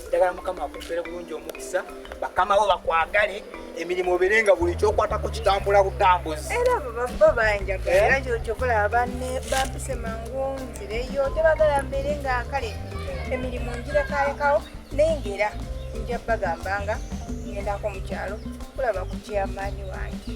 ddagala mukama akumpere bulungi omukisa bakamawo bakwagale emirimu obere nga buli kyokwatako kitambula butambuzi era baba banjagala era kyokola banne bampise mangu nzireyo tebagala mbeere nga kale emirimu njirekalekawo naye ngaera nja bagambanga ngendako mu kyalo kulaba ku kyamaanyi wange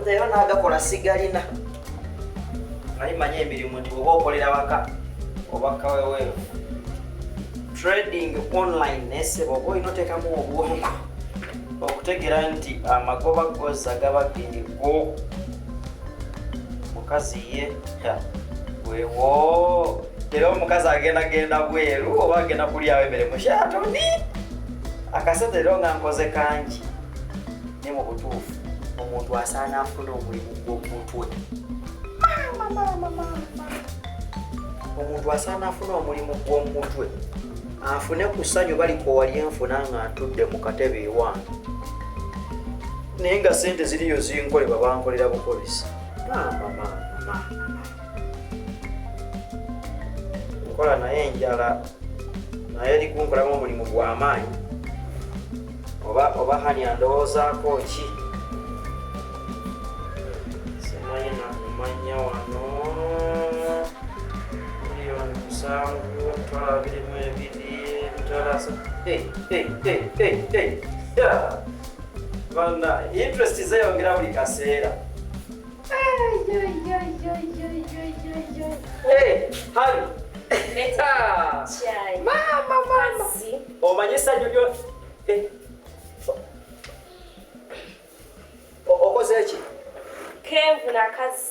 nzeyo nagakola sigalina naye manya emirimu nti oba okolera waka oba kaweweevu trading online nesebo oba olina otekamu obwongo okutegera nti amagoba goza gaba geego mukazi ye wewo era omukazi agenda genda bweru oba agenda kulyawo emere mushatoni akasente era nga nkoze kangi ne mu butuufu omuntu asaana afuna omulimu gw'omutwe omuntu asaana afuna omulimu gw'omutwe afune ku ssanyu balikowalyenfuna nga ntudde mu katebe ewange naye nga sente ziriyo zinkolebwa bankolera bukolesi nkola naye enjala naye eri kunkolamu omulimu gwamaanyi oba oba hani andowoozaako ki simanyi nakumanya wano miliyoni musanvu tala birimu ebiri talasa Bana, interest zeyongera buli kaseera. Hey, hali. Eta. Chai. Mama, mama. Omanye sanyu lyo. Eh. Okoze ki? Kenvu na kazi.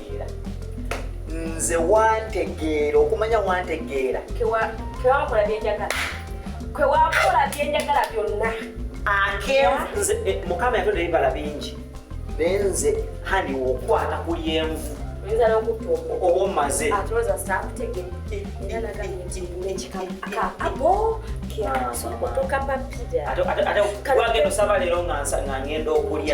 nze wantegeera okumanya wantegeera kewakola byenjagala kwewakola byenjagala byonna eh, mukama yatonda ebibala bingi naye nze hani wokwata ku lyenvu oba omaze ate wagenda osaba leero nga ngenda okulya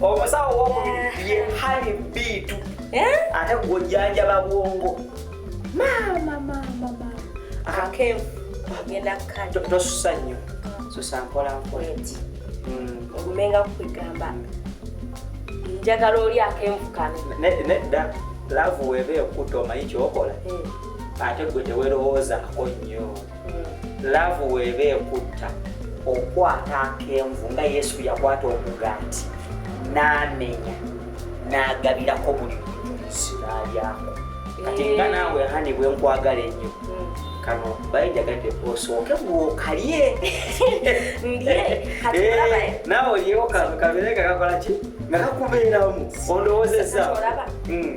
omusawo owokubiri ye hani biitu eh? ate gwojanjaba bwongo tosusa nnyo susa mpolampola hmm. ogumenga kukugamba njagala oli akenvukano nedda laavu weeba ekuta omanyi kyokola eh. ate gwe tewerowoozako nnyo laavu weeba ekutta okwata akenvu nga yesu yakwata omugaati n'amenya n'agabirako buli mutunzi n'alyako kati nga eh. naawe hani bwe nkwagala ennyo hmm. kano bayijagadde osooke gwokalye eh, naawe olyewo kano kabeere nga kakola ki nga kakubeeramu ondowoozezza hmm.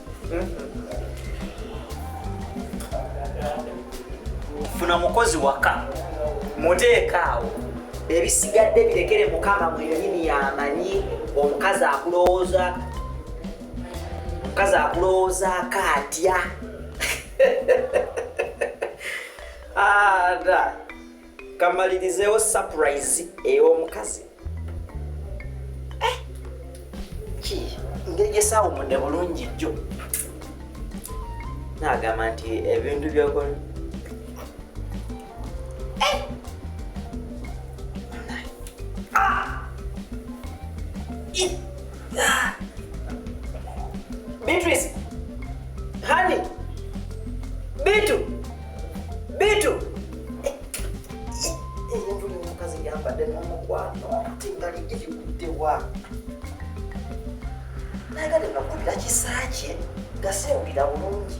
funa mukozi waka muteekaawo ebisigadde birekere mukama mwenyini yamanyi omukazi akulowooza omukazi akulowoozaako atya ada ah, kamalirizeewo surprise ey'omukazi eh, ki ngeri gyesaawumudde bulungi jjo naagamba nti ebintu byokola eh! ah! ah! Beatrice, honey, Beatrice. Bitu. Omuntu eh, eh, omukazi yambadde n'omukwano ate nga lijja kigudde wa? Nayagadde nga kubira kisa kye nga sewulira bulungi.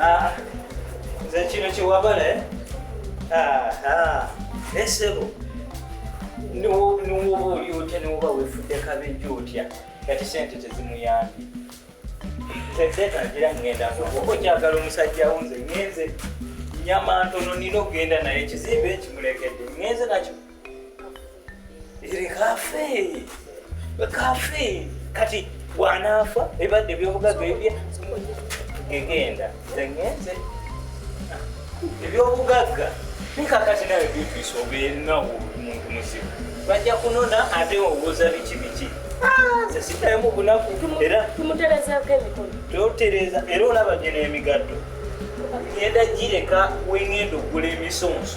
Ah, nze kino kyewabala eh? ah, ah. naye sebo niwoba oli otya niwoba wefudde kabejja otya kati sente tezimuyambye tezetangira ngenda oba okyagala omusajja wunze ngenze nyama ntono nina okugenda naye ekizimbe ekimulekedde ngenze nakyo Iri kafe. Kafe. Kati bw'anaafa ebadde ebyobugagga ebye gegenda zengenze ebyobugagga nikakati nawe bibiisa obeerinawo muntu muzibu bajja kunona ate obuuza biki biki ah, sesitaemu bunaku era totereza era olaba gye n'emigatto ngenda gireka wengenda okugula emisonso